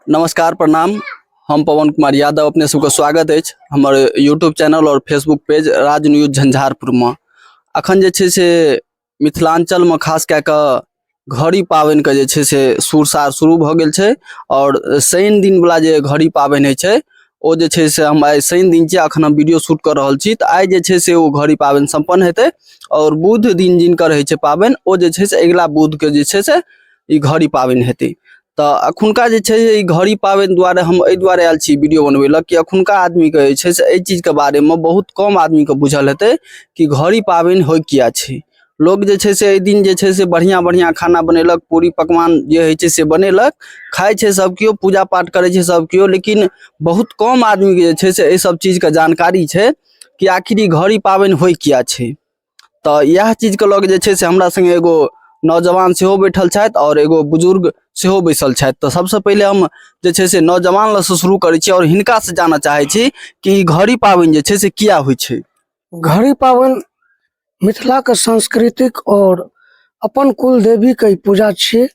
नमस्कार प्रणाम हम पवन कुमार यादव अपने सबके स्वागत अछि हमर यूट्यूब चैनल और Facebook page Raj news Jhanjharpur में अखन जे छै से मिथिलांचल में खास कए कऽ घड़ी पाबनि के जे छै से सुरसार शुरू भऽ गेल छै और शनि दिन वाला जे घड़ी पाबनि होइ छै ओ जे छै से हम आइ शनि दिन छियै अखन हम वीडियो शूट कऽ रहल छी तऽ आइ जे छै से ओ घड़ी पाबनि सम्पन्न हेतै और बुध दिन जिनकर होइ छै पाबनि ओ जे छै से अगिला बुध के जे छै से ई घड़ी पाबनि हेतै तऽ एखुनका जे छै ई घड़ी पाबनि दुआरे हम एहि दुआरे आयल छी वीडियो बनबै लए कि एखुनका आदमीके जे छै से एहि चीजके बारेमे बहुत कम आदमीके बुझल हेतै कि घड़ी पाबनि होइ किया छै लोक जे छै से एहि दिन जे छै से बढ़िआँ बढ़िआँ खाना बनेलक पूरी पकवान जे होइ छै से बनेलक खाइ छै सभ केओ पूजा पाठ करै छै सभ केओ लेकिन बहुत कम आदमीके जे छै से एहि सभ चीजके जानकारी छै कि आखिर ई घड़ी पाबनि होइ किया छै तऽ इएह चीजके लऽ कऽ जे छै से हमरा सङ्गे एगो नौजवान सेहो बैठल छथि आओर एगो बुजुर्ग सेहो बैसल छथि तऽ सबसँ पहिले हम जे छै से नौजवान लग से शुरू करै छी आओर हिनका से जानऽ चाहै छी कि ई घड़ी पाबनि जे छै से किया होइ छै घड़ी पाबनि मिथिलाके सांस्कृतिक आओर अपन कुल देवीके ई पूजा छियै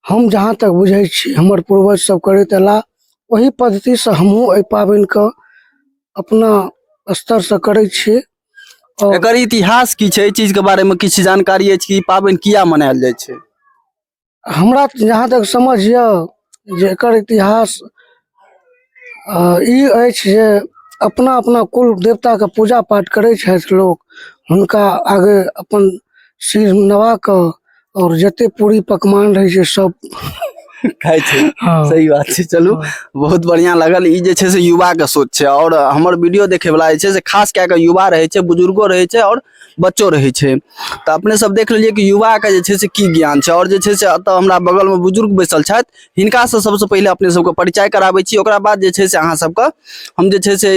हम जहाँ तक बुझै छी हमर पूर्वज सब करैत अयला ओहि पद्धतिसँ हमहूँ एहि पाबनिके अपना स्तरसँ करै छी आओर एकर इतिहास की छै एहि चीज के बारे में किछु जानकारी अछि कि ई पाबनि किया मनायल जाइ छै हमरा जहाँ तक समझ यऽ जे एकर इतिहास आ ई अछि जे अपना अपना कुल देवताके पूजा पाठ करै छथि लोक हुनका आगे अपन सिर नवा कऽ आओर जते पूरी पकवान रहै छै सब खाइ छै हँ। सही बात छै चलू बहुत बढ़िया लागल ई जे छै से युवा के सोच छै और हमर वीडियो देखे वाला जे छै से खास कए के युवा रहे छै बुजुर्गो रहे छै और बच्चो रहै छै तऽ अपने सब देख लेलियै कि युवाके जे छै से की ज्ञान छै आओर जे छै से एतऽ हमरा बगलमे बुजुर्ग बैसल छथि हिनकासँ सबसँ पहिले अपने सबके परिचय कराबै छी ओकरा बाद जे छै से अहाँ सबके हम जे छै से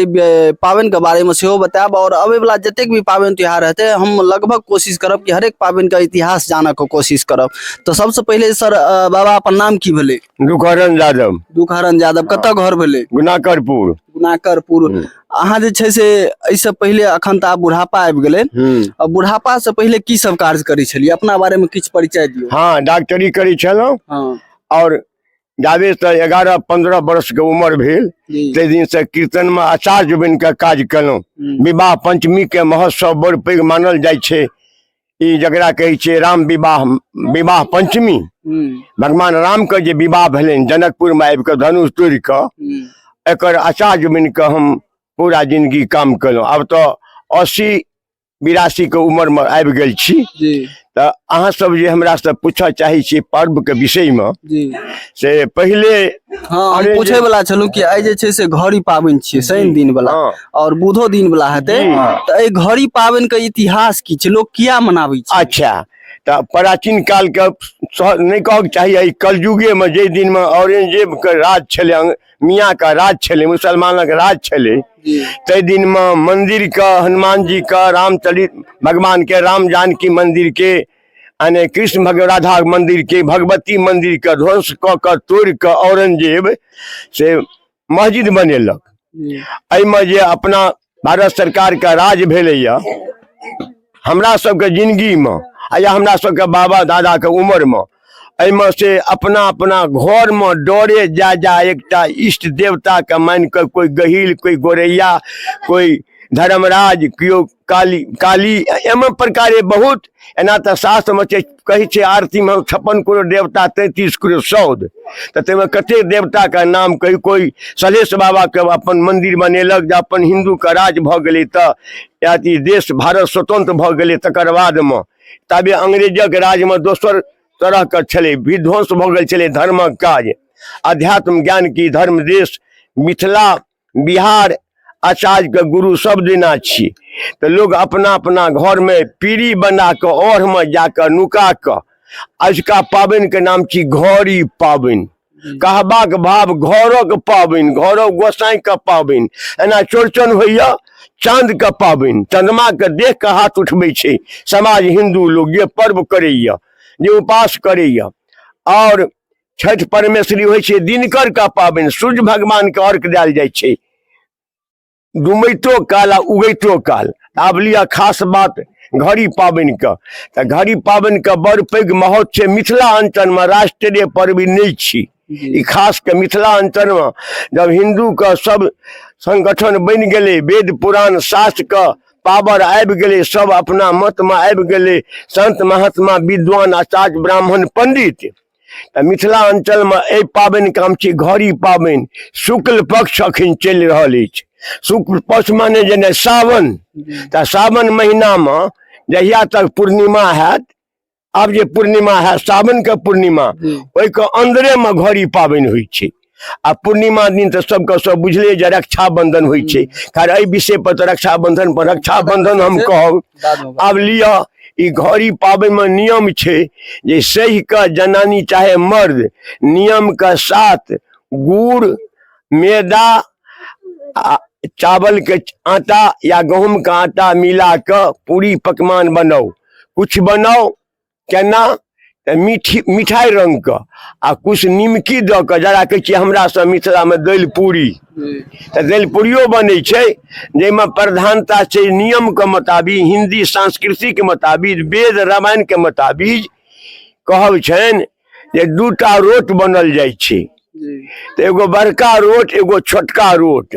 पाबनिके बारेमे सेहो बतायब आओर अबैवला जतेक भी पाबनि त्यौहार हेतै हम लगभग कोशिश करब कि हरेक पाबनिके इतिहास जानऽके कोशिश करब तऽ सबसँ पहिले सर बाबा अपन नाम की भेलै दुखहरण यादव दुखहरण यादव कतऽ घर भेलै गुनाकरपुर गुनाकरपुर हम्म। अहाँ जे छै से एहिसँ पहिले अखन तऽ आब बुढ़ापा आबि गेलै हम्म। आ बुढ़ापा से पहिले की सब कार्य करै छलियै अपना बारे में किछु परिचय दियौ हाँ डॉक्टरी करै छलहुँ हाँ और जाबे से एगारह पंद्रह वर्ष के उम्र भेल जी ताहि दिन से कीर्तन में आचार्य बन के काज केलहुँ हम्म, विवाह पंचमी के महोत्सव बड़ पैघ मानल जाइ छै ई जकरा कहै छै राम विवाह विवाह पंचमी भगवान राम के जे विवाह भेलनि जनकपुर में आबि कऽ धनुष तोड़ि कऽ एकर आचार्य बनि कऽ हम पूरा जिंदगी काम केलहुँ आब तऽ अस्सी बिरासी के उम्र में आबि गेल छी तऽ अहाँ सब जे हमरा से पूछऽ चाहै छियै पर्व के विषय में से पहिले हँ हम अरे पूछै जे- वला छलहुँ कि आइ जे छै से घड़ी पाबनि छियै शनि दिन वाला हँ। और बुधो दिन वाला हेतै जी। तऽ एहि घड़ी पाबनि के इतिहास की छै लोक किया मनाबै छै अच्छा तऽ प्राचीन कालके सह- नहि कहक चाही एहि कलयुगेमे जाहि दिनमे औरंगजेबके राज छलै अंग- मियाँके राज छलै मुसलमानक राज छलै ताहि दिनमे मन्दिरके हनुमानजीके रामचरित भगवानके राम जानकी मन्दिरके यानी कृष्ण भग राधा मंदिर के भगवती मंदिर के ध्वंस क के तोड़ के औरंगजेब से मस्जिद बनेलक एहिमे जे अपना भारत सरकार के राज भेलैया हमरा सबके जिंदगी में आ या हमरा सबके बाबा दादा के उम्र में एहिमे से अपना अपना घर में डरे जा जा एकटा इष्ट देवता के मान के कोई गहिल कोई गोरैया कोई धर्मराज केओ काली काली एम प्रकारे बहुत एना तऽ शास्त्रमे छै कहै छै आरतीमे छप्पन करोड़ देवता तैंतीस करोड़ सौद तऽ ताहिमे कतेक देवताके नाम कही कोइ सलेश बाबाके अपन मन्दिर बनेलक जे अपन हिन्दूके राज भऽ गेलै तऽ अथी देश भारत स्वतंत्र भऽ गेलै तकर बादमे ताबे अंग्रेजक राजमे दोसर तरहके छलै विध्वंस भऽ गेल छलै धर्मक काज अध्यात्म ज्ञान की धर्म देश मिथिला बिहार आचार्यके गुरु सब दिना छी तऽ लोक अपना अपना घरमे पीढ़ी बना कऽ ओढ़मे जा कऽ नुका कऽ अजुका पाबनिके नाम छी घड़ी पाबनि कहबाक भाव घरक पाबनि घरक गोसाइके पाबनि एना चौड़चन होइए चाँदके पाबनि चन्द्रमाके देख कऽ हाथ उठबै छै समाज हिन्दू लोक जे पर्व करैए जे उपास करैए आओर छठि परमेश्वरी होइ छै दिनकर का पाबनि सूर्य भगवान के अर्घ देल जाइ छै डुमैतो काल आ उगैतो काल आब लिअ खास बात घड़ी पाबनि के तऽ घड़ी पाबनि के बड़ पैघ महत्व छै मिथिला अंचल मे राष्ट्रीय पर्व नहि छी ई खास के मिथिला अंचल मे जब हिंदू के सब संगठन बनि गेलै वेद पुराण शास्त्र के पावर आबि गेलै सब अपना मत मे आबि गेलै संत महात्मा विद्वान आचार्य ब्राह्मण पंडित तऽ मिथिला अंचलमे एहि पाबनि काम छी घड़ी पाबनि शुक्ल पक्ष अखन चलि रहल अछि शुक्ल पक्ष माने जेना सावन तऽ सावन महीनामे जहिया तक पूर्णिमा हैत आब जे पूर्णिमा हैत सावनके पूर्णिमा ओहिके अन्दरेमे घड़ी पाबनि होइ छै आ पूर्णिमा दिन तऽ सबके सब बुझले जे रक्षाबंधन होइ छै खैर एहि विषय पर तऽ रक्षाबंधन पर रक्षाबंधन हम कहब बादमे बात। आब लिअ ई घड़ी पाबनिमे नियम छै जे सही कऽ जनानी चाहे मर्द नियमके साथ गुड़ मैदा आ चावलके आटा या गहूँमके आटा मिला कऽ पूरी पकवान बनाउ किछु बनाउ केना तऽ मीठी मिठाइ रङ्गके आ किछु निमकी दऽ कऽ जकरा कहै छियै हमरासँ मिथिलामे दालि पूरी तऽ दालि पूरियो बनै छै जाहिमे प्रधानता छै नियमके मोताबिक हिन्दी संस्कृतिके मोताबिक वेद रामायणके मोताबिक कहब छनि जे दूटा रोट बनल जाइ छै तऽ एगो बड़का रोट एगो छोटका रोट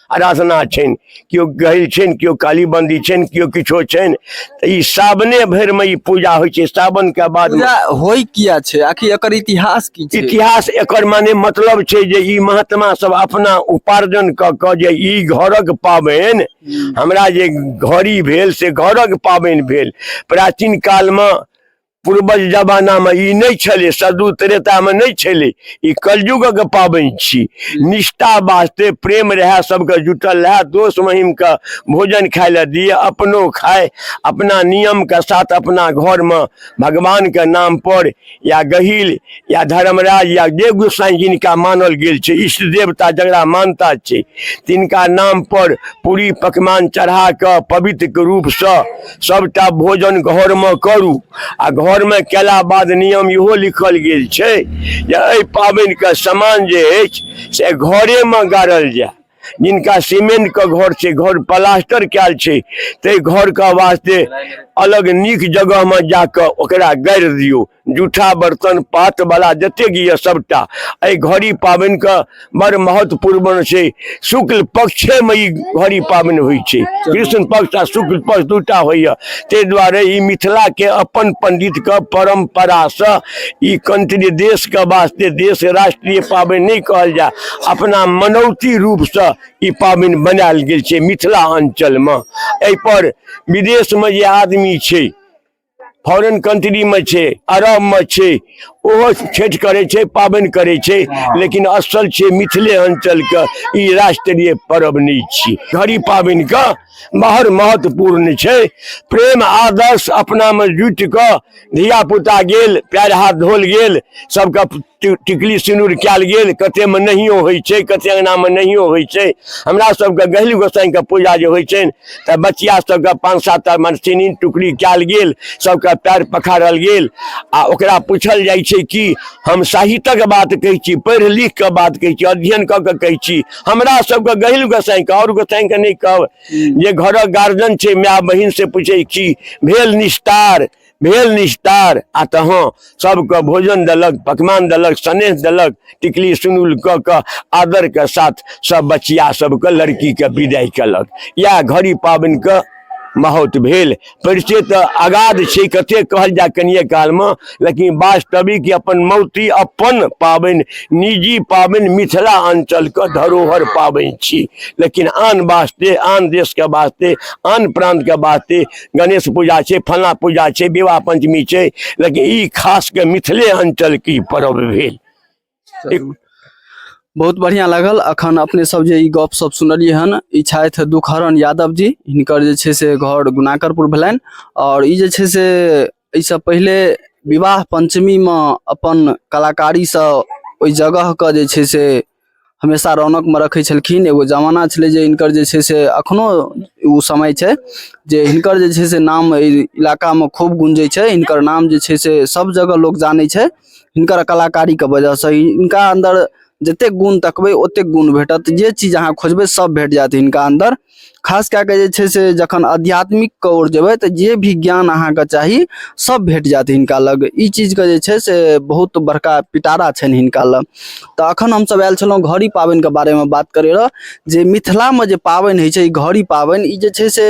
आराधना छनि केओ गहिल छनि केओ कालीबन्दी छनि केओ किछो छनि तऽ ई सावने भरिमे ई पूजा होइ छै सावनके बाद पूजा होइ किया छै आखिर एकर इतिहास की छै इतिहास एकर माने मतलब छै जे ई महात्मा सब अपना उपार्जन कऽ कऽ जे ई घरक पाबनि हमरा जे घड़ी भेल से घरक पाबनि भेल प्राचीन कालमे पूर्वज जमानामे ई नहि छलै सदू त्रेतामे नहि छलै ई कलयुगक पाबनि छी निष्ठा वास्ते प्रेम रहए सभके जुटल रहए दोस्त महिमके भोजन खाय लए दिए अपनो खाय अपना नियमके साथ अपना घरमे भगवानके नामपर या गहील या धर्मराज या जे गोसाई जिनका मानल गेल छै इष्ट देवता जकरा मानता छै तिनका नाम पर पूरी पकवान चढ़ा कऽ पवित्रके रूपसँ सभटा भोजन घरमे करू आ घरमे कयला बाद नियम इहो लिखल गेल छै जे एहि पाबनिके समान जे अछि से घरेमे गाड़ल जाय जिनका सीमेंटके घर छै घर प्लास्टर कयल छै ताहि घरके वास्ते अलग नीक जगहमे जा कऽ ओकरा गाड़ि दियौ जूठा बर्तन पातवला जतेक यए सभटा एहि घड़ी पाबनिके बड़ महत्वपूर्ण छै शुक्ल पक्षेमे ई घड़ी पाबनि होइ छै कृष्ण पक्ष आ शुक्ल पक्ष दूटा होइए ताहि दुआरे ई मिथिलाके अपन पण्डितके परम्परासँ ई कंत्री देशके वास्ते देश राष्ट्रीय पाबनि नहि कहल जाय अपना मनौती रूपसँ ई पाबनि बनायल गेल छै मिथिला अञ्चलमे एहिपर विदेशमे जे आदमी छै फॉरेन कंट्री में छे अरब में छे ओहो छठ करे छे पाबन करे छे लेकिन असल छे मिथिले अंचल के ई राष्ट्रीय पर्व नहीं छी घड़ी पाबन का बहुत महत्वपूर्ण छे प्रेम आदर्श अपना में जुट के धिया पुता गेल पैर हाथ धोल गेल सबका टिकली सिनूर कयल गेल कतेकमे नहियो होइ छै कते अङ्गनामे नहियो होइ छै हमरा सबके गहिल गोसाइके पूजा जे होइ छनि तऽ बचिया सबके पाँच सात टा मरसिनी टुकड़ी कयल गेल सबके पैर पखारल गेल आ ओकरा पूछल जाइ छै कि हम साहित्यक बात कहै छी पढ़ि लिख कऽ बात कहै छी अध्ययन कऽ कऽ कहै छी हमरा सबके गहिल गोसाइके आओर गोसाइके नहि कहब जे घरक गार्जियन छै माय बहिन से पूछै छी भेल निस्तार भेल निस्तार आ तहाँ सबके भोजन देलक पकवान देलक स्नेह देलक टिकली सुनुल कऽ कऽ आदरके साथ सब बचिया सबके लड़कीके विदाइ केलक इएह घड़ी पाबनिके महौत भेल परिचय तऽ अगाध छै कते कहल जाय कनिए कालमे लेकिन वास्तविक अपन मौती अपन पाबनि निजी पाबनि मिथिला अंचलके धरोहर पाबनि छी लेकिन आन वास्ते आन देशके वास्ते आन प्रान्तके वास्ते गणेश पूजा छै फला पूजा छै विवाह पंचमी छै लेकिन ई खास के मिथिले अंचल की पर्व भेल बहुत बढ़िया लागल अखन अपने सब जे ई गप सब सुनलिए हन ई छथि दुखहरण यादव जी हिनकर जे छै से घर गुनाकरपुर भेलनि और ई जे छै से एहिसँ पहिले विवाह पञ्चमीमे अपन कलाकारीसँ ओहि जगहके जे छै से हमेशा रौनकमे रखै छलखिन एगो जमाना छलै जे हिनकर जे छै से एखनो ओ समय छै जे हिनकर जे छै से नाम एहि इलाकामे खूब गुंजै छै हिनकर नाम जे छै से सभ जगह लोक जानै छै हिनकर कलाकारीके वजहसँ हिनका अन्दर जतेक गुण तकबै ओतेक गुण भेटत जे चीज अहाँ खोजबै सभ भेट जायत हिनका अन्दर खास कए कऽ जे छै से जखन आध्यात्मिकके ओर जेबै तऽ जे भी ज्ञान अहाँके चाही सब भेट जायत हिनका लग ई चीजके जे छै से बहुत बड़का पिटारा छनि हिनका लग तऽ अखन हमसब आयल छलहुँ घड़ी पाबनिके बारेमे बात करै रह जे मिथिलामे जे पाबनि होइ छै ई घड़ी पाबनि ई जे छै से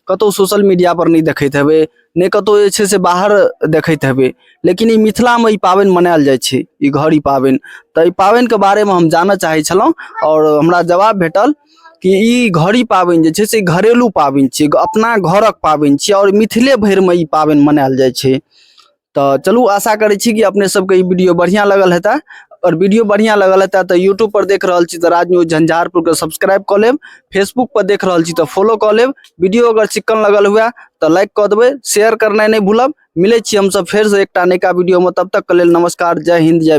कतहु सोशल मीडिया पर नहि देखैत हेबै नहि कतहु जे छै से बाहर देखैत हेबै लेकिन ई मिथिलामे ई पाबनि मनायल जाइ छै ई घड़ी पाबनि तऽ ई पाबनिके बारेमे हम जानऽ चाहै छलहुँ आओर हमरा जवाब भेटल कि ई घड़ी पाबनि जे छै से घरेलू पाबनि छियै अपना घरक पाबनि छियै आओर मिथिले भरिमे ई पाबनि मनायल जाइ छै तऽ चलू आशा करै छी कि अपने सबके ई वीडियो बढ़िया लगल हेतै और वीडियो बढ़िया लगल हेतै तऽ यूट्यूब पर देख रहल छी तऽ राज न्यूज झंझारपुर के सब्सक्राइब कऽ लेब फेसबुक पर देख रहल छी तऽ फॉलो कऽ लेब वीडियो अगर चिक्कन लगल हुए तऽ लाइक कऽ देबै शेयर करनाइ नहि भूलब मिलै छी हमसब फेर से एकटा नयका वीडियो में तब तक के लेल नमस्कार जय हिंद जय